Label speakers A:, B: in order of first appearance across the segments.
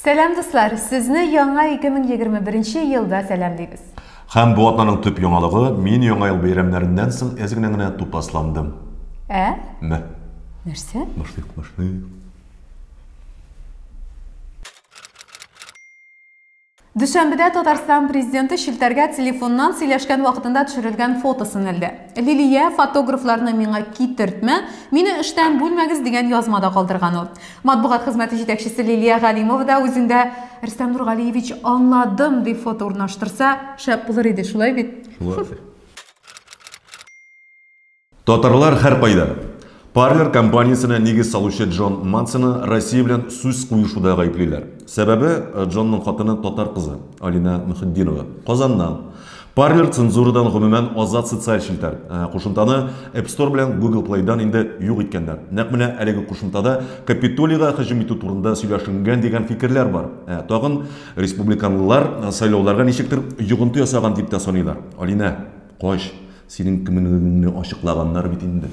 A: Сәлам дуслар, сезне яңа 2021 елда сәламлибез. Һәм бу атнаның
B: төп яңалыгы, мин яңа ел бәйрәмнәреннән соң әз генә генә тупасландым. Ә? Мә. Нәрсә?
A: Мышнык, мышнык. Дүшәмбедә Татарстан Президенты челтәргә телефоннан сөйләшкән вакытында төшерелгән фотосын элде. Лилия, фотографларны миңа китертмә, мине эштән бүлмәгез, дигән язма да калдырган ул. Матбугат хезмәте җитәкчесе Лилия Галимова да үзендә, Рөстәм Нургалиевич, аңладым, дип фото урнаштырса, шәп булыр иде, шулай бит? Шулай.
B: Татарлар һәркайда! Parler компаниясенә нигез салучы Джон Мансоны Россия белән сүз куешуда гаеплиләр. Сәбәбе, Джонның хатыны татар кызы, Алинә Мөхетдинова, Казаннан. Parler цензурадан гомумән азат социаль челтәр. Ә кушымтаны App Store белән Google Play-дан инде юк иткәннәр. Нәкъ менә әлеге кушымтада Капитолийга һөҗүм итү турында сөйләшенгән дигән фикерләр бар. Ә тагын республиканлылар сайлауларга ничектер йогынты ясаган дип тә саныйлар. Алинә, кач! Синең кемлегеңне ачыклаганнар бит инде.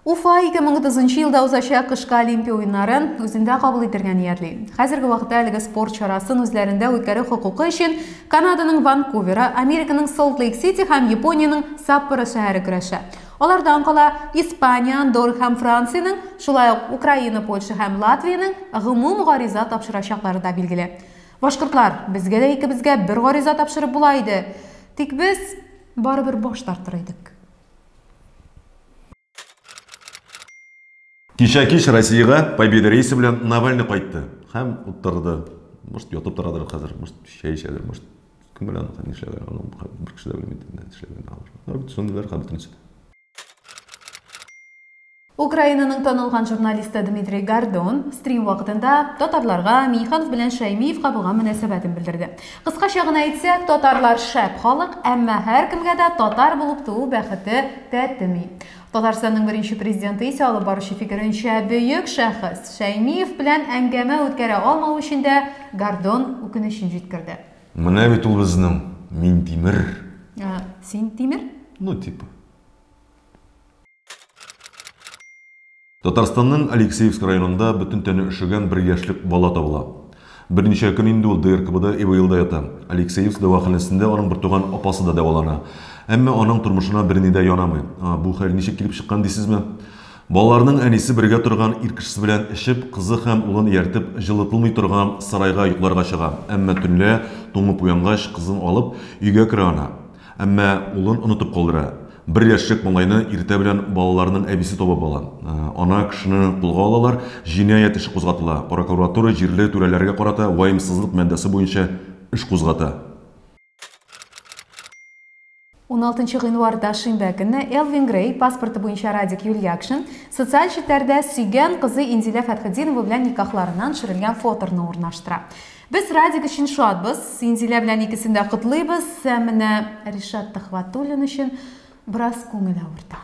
A: Уфа 2030 нчы елда узачак кышкы Олимпия уеннарын үзендә кабул итергә ниятли. Хәзерге вакытта әлеге спорт чарасын үзләрендә үткәрү хокукы өчен Канаданың Ванкуверы, Американың Солт-Лейк-Сити һәм Япониянең Саппоро шәһәре көрәшә. Алардан кала Испания, Андорр һәм Франциянең, шулай ук Украина, Польша һәм Латвиянең гомум гариза тапшырачаклары да билгеле. Башкортлар, безгә дә икебезгә бер гариза тапшырып була иде. Тик без барыбер баш тартыр идек.
B: Кичә кич Россиягә Победа рейсы белән Навальный кайтты һәм утырды. Может, ятып торадыр хәзер, может, чәй эчәдер, может, кем белә, нишләгән, бер кеше дә белми, нишләгән. Түземлеләр хәбәтен ишетә.
A: Украинаның танылган журналисты Дмитрий Гордон стрим вакытында татарларга Миниханов белән Шәймиевка булган мөнәсәбәтен белдерде. Кыскача гына әйтсәк, татарлар шәп халык, әмма һәркемгә дә татар булып туу бәхете тәтеми. Татарстанның беренче президенты исә, алып баручы фикеренчә, бөек шәхес. Шәймиев белән әңгәмә үткәрә алмау өчен дә Гордон үкенечен җиткерде. Менә бит ул
B: безнең Минтимер. Ә,
A: син Тимер? Ну, типа.
B: Татарстанның Алексеевск районында бөтен тәне өшегән бер яшьлек бала табыла. Берничә көн инде ул ДРКБда ИВЛда ята. Алексеевск дәваханәсендә аның бертуган апасы да дәвалана. Әмма аның тормышына берни дә янамый. Бу хәл ничек килеп чыккан дисезме? Балаларның әнисе бергә торган ир кешесе белән эчеп, кызы һәм улын ияртеп, җылытылмый торган сарайга йокларга чыга, әмма төнлә, туңып уянгач, кызын алып, өйгә керә ана. Әмма улын онытып калдыра. Бер яшьлек малайны иртә белән балаларның әбисе табып ала. Ана кешене кулга алалар, җинаять эше кузгатыла, прокуратура җирле түрәләргә карата ваемсызлык маддәсе буенча эш кузгата. 16
A: нчы гыйнварда шимбә көнне Элвин Грей, паспорты буенча Радик Юльякшин, социаль челтәрдә сөйгән кызы Инзилә Фәтхетдинова белән никахларыннан төшерелгән фоторны урнаштыра. Без Радик өчен шатбыз, Инзилә белән икесен дә котлыйбыз, ә менә Ришат Төхвәтуллин өчен бераз күңел авырта.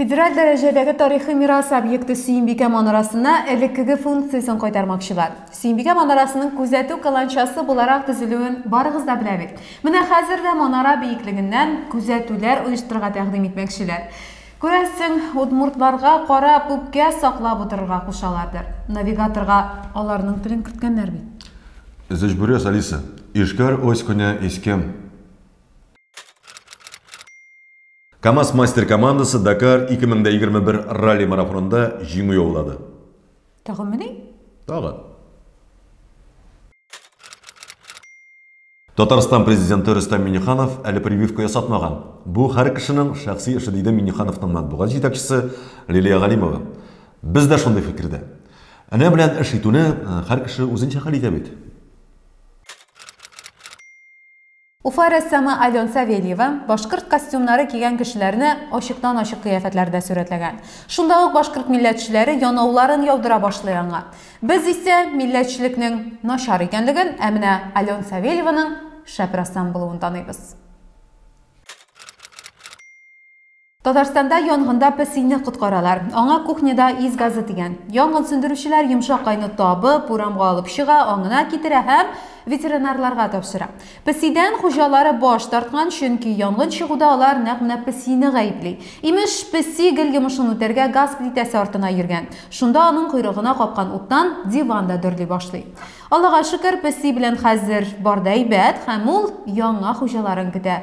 A: Федераль дәрәҗәдәге тарихи мирас объекты Сөембикә манарасына элеккеге функциясен кайтармакчылар. Сөембикә манарасының күзәтү каланчасы буларак төзелүен барыгыз да белә бит. Менә хәзер дә манара биеклегеннән күзәтүләр оештырырга тәкъдим итмәкчеләр. Күрәсең, удмуртларга карап, үпкә саклап утырырга кушалардыр. Навигаторга аларның телен керткәннәр бит. Зөҗбүрәс
B: Алиса, Ишкәр ось көне искем. Камаз мастер командасы Дакар 2021 ралли марафонында җиңү яулады. Тагынмыни?
A: Тагын.
B: Татарстан президенты Рөстәм Миниханов әле прививка ясатмаган. Бу хәр кешенең шәхси эше, диде Минихановның матбугат җитәкчесе Лилия Галимова. Без дә шундый фикердә. Энә белән эш итүне хәр кеше үзенчә хәл итә бит.
A: Уфа рәссамы Ален Савельева башкорт костюмнары кигән кешеләрне ачыктан-ачык кыяфәтләрдә сурәтләгән. Шунда ук башкорт милләтчеләре янауларын яудыра башлый аңа. Без исә милләтчелекнең начар икәнлеген, ә менә Ален Савельеваның шәп рәссам булуын таныйбыз. Татарстанда янгында песине коткаралар. Аңа кухняда ис газы дигән. Янгын сүндерүчеләр йомшак айны табып, урамга алып чыга, аңына китерә һәм ветеринарларга тапшыра. Песидән хуҗалары баш тарткан, чөнки янгын чыгуда алар нәкъ менә песине гаепли. Имеш, песи гел йомышын үтәргә газ плитәсе артына йөргән. Шунда аның койрыгына капкан уттан диван да дөрли башлый. Аллага шөкер, песи белән хәзер бар да әйбәт һәм ул яңа хуҗаларын көтә.